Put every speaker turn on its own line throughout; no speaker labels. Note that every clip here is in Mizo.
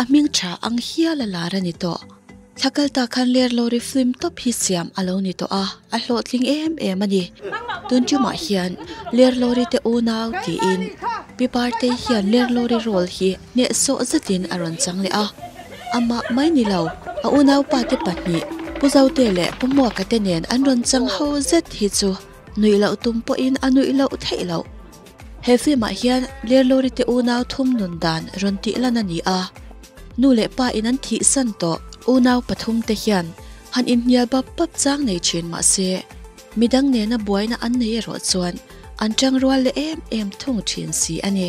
A hming tha ang hial a lar a ni tawh. Thla kal ta khan ler lo ri flim tawp hi siam a lo ni tawh a, a hlawhtling em em a ni. Tun ṭumah hian ler lo ri te unau tiin Pi Partei hian ler lo ri role hi hneh sawh zetin a rawn chang leh a. Amah mai ni lo, a unaupa te pahnih, Pu Zaute leh Pu Muaka te nen an rawn chang ho zet hi chu nuih loh tum pawhin a nuih loh theih loh. He film ah hian Lerlori te unau thum nun dan rawn tih lan a ni a, nu leh pa in an thih san tawh. Unau pathum te hian han inhnial bap bap chang nei thin mahse mi dang nena buaina an nei erawh chuan an tang rual leh em em thung thin si a ni.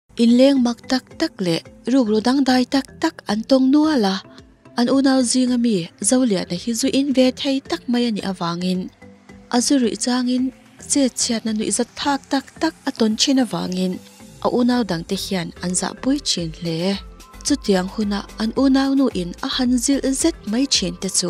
In leng
mak tak tak leh rukru dangdai tak tak an tawng nual a, an unau zing ami Zoliana hi zu in ve thei tak mai a nih avangin, a zu ruih changin chetchhiatna nuih zat phak tak tak a tawn thin avangin a unau dang te hian an zahpui thin hle. Chutiang hunah an unau nu in a han zilh zet mai thin te chu.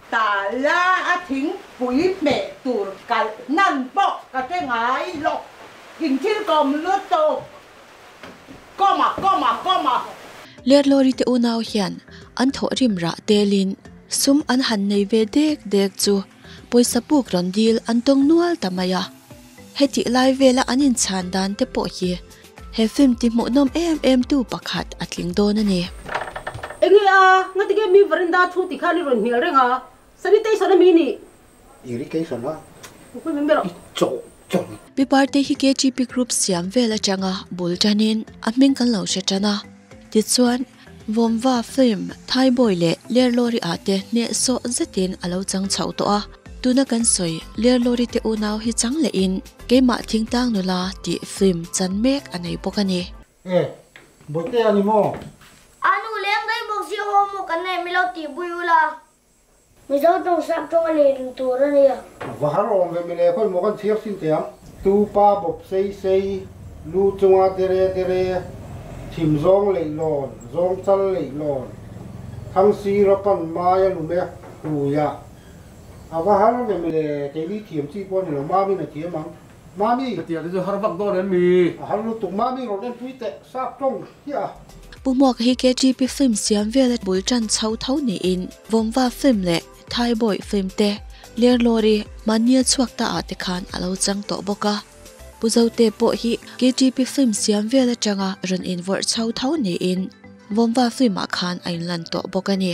Ta la
a thing pui hmeh tur kalh hnan pawh ka hre ngai lawk in thil kawm lutuk kawma kawma kawma. Lerlawri
te unau hian an thawh rim rah telin sum an han nei ve dek dek chu pawisa puk rawn dil an tawng nual ta mai a. Hetih lai vela an inchhan dan te pawh hi he film tihmuhnawm em em tu pakhat a tling dawn a ni. Eng nge
a, Ngatige mi Veranda thu ti khan i rawn hnial reng a, Sanitation a mi nih. Irrigation
a, Kawngpui min
ber a. Chawh chawh.
Mi parte
hi KGB group siam vel atanga bul tanin a hming kan lo hre tan a, tichuan. Vawmva film, Thaibawi leh Lerlawri ah te hnehsawh zetin a lo chang chhoh tawh a, tuna kan sawi Lerlawri te unau hi chang leh in keimah thingtang nula tih film chan mek a nei bawk a ni. E,
Bawihte a ni maw? A nu
leng daih bawk zia haw maw kan neih mi lo tih bui ula. Mizo tawng sap tawnga leh lim tur a nia. Vahar awm ve
mileh pawh emaw kan chhiar sin thei ang. Tupa bawp sei sei, lu chunga dere dere, thim zawng leih lawn, zawng chal leih lawn, thang sira pan maia lum e hluia. A vahar ve mileh keini thiam chi pawh a ni lo, Mami-na thiam ang. Mami ka ti a ti chu har vak
dawn em ni? A har lutuk Mami
rawn en pui teh sâk tawng hi a.
Pu Hmuak hi KGP film siam vel a bul tan chho tho niin Vawmva film leh Thai Boy film te Lerlawri Mania chhuak ta ah te khan a lo chang tawh bawk a. Pu Zote pawh hi KGP film siam vel atanga rawn invawrh chho tho niin Vawmva film ah khan a inlan tawh bawk a ni.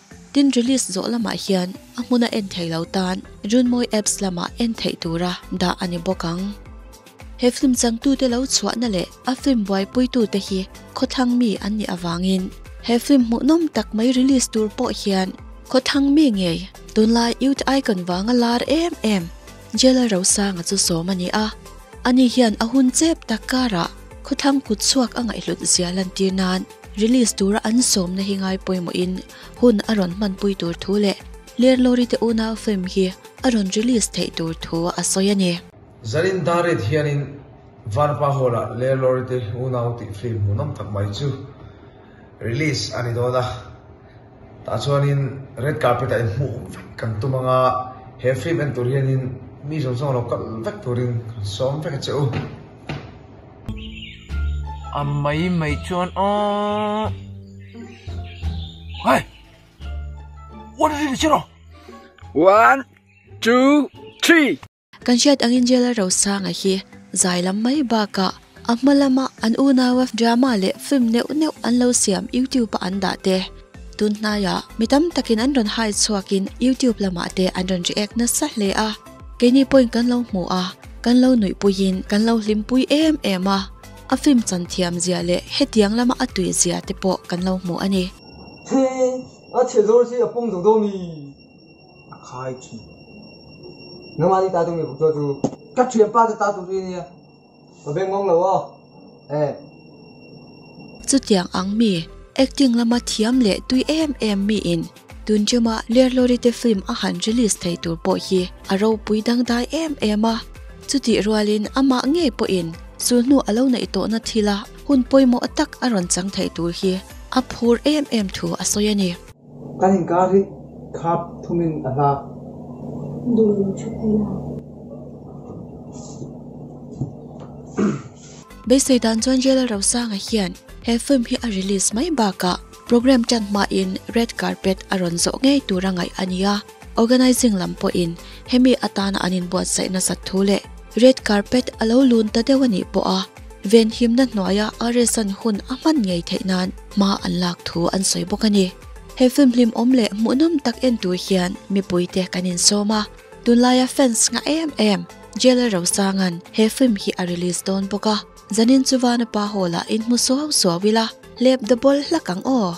Tin, release zawh lamah hian a hmun a en thei lo tan Runmawii apps lamah en theih tura dah a ni bawk ang. He film changtute lo chhuahna leh a film buaipuitute hi khawthlang mi an nih avangin he film hmuhnawm tak mai release tur pawh hian khawthlang mi ngei tunlai youth icon vanga lar em em. Jela Rosanga chu sawm a ni a, a ni hian a hun chep tak karah khawthlang kut chhuak a ngaihlut zia lantir nan release tura an sawmna hi ngai pawimawhin hun a rawn hmanpui tur thu leh Lerlori te unau film hi a rawn release theih tur thu a sawi a ni. Zarin
Darit hianin Varpa Hall ah Lerlori te unau tih film hmuhnawm tak mai chu release a ni dawn a. Tah chuanin red carpet-ah i hmuh vek kan tum ang a, he film en tur hianin mi zawng zawng lo kal vek turin kan sawm vek che u.
A mai mai chuan awh! Hai! One ring che rawh! One, two, three! Kan hriat angin
Jailor Rosanga hi zai lam mai bakah a hma lama an unaua drama leh film neuh neuh an lo siam youtube-ah an dah te tun hnaia mi tam takin an rawn hai chhuakin youtube lamah te an rawn ri ek nasa hle a, keini pawhin kan lo hmu a, kan lo nuihpuiin kan lo hlimpui em em a, a film chan thiam zia leh hetiang lama a tui zia te pawh kan lo hmu a ni. Heng,
a chhiat zawr hi a pawng deuh deuh mi? a khai thin. Nangmah ni ta tu mi bukchua chu ka thianpa te ta tu chu i nia, ka beng ngawng lo aw e.
Chutiang ang mi acting lama thiam leh tui em em mi in Tunjoma Lerlorite film a han release thei tur pawh hi a ropui dangdai em em a, chutih rual in amah ngei pawh in sulhnu a lo naih tawh na thil a hun pawimawh tak a rawn chang thei tur hi a phur em em thu a sawi a ni. Kan inkar
hi khap thumin a hla.
Duh
ve ṭhut hi la. Beisei dan chuan Jela Rosanga hian he film hi a release mai bakah programme ṭan hmain red carpet a rawn zawh ngei tur a ngaih a nia. Organising lam pawhin hemi atana an inbuatsaih nasat thu leh red carpet a lo lun ta deuh a nih pawh a. Venhimna hnuaia Aresan hun a hman ngei theih nan hma an lak thu an sawi bawk a ni. He film hlimawm leh hmuhnawm tak en tur hian mipuite kan insawm a, tunlaia fans ngah em em. Jailer Rosanga'n he film hi a release dawn bawk a, zanin chu Vanapa Hall-ah in hmu suau suau ila, lep da bawl hlak ang aw.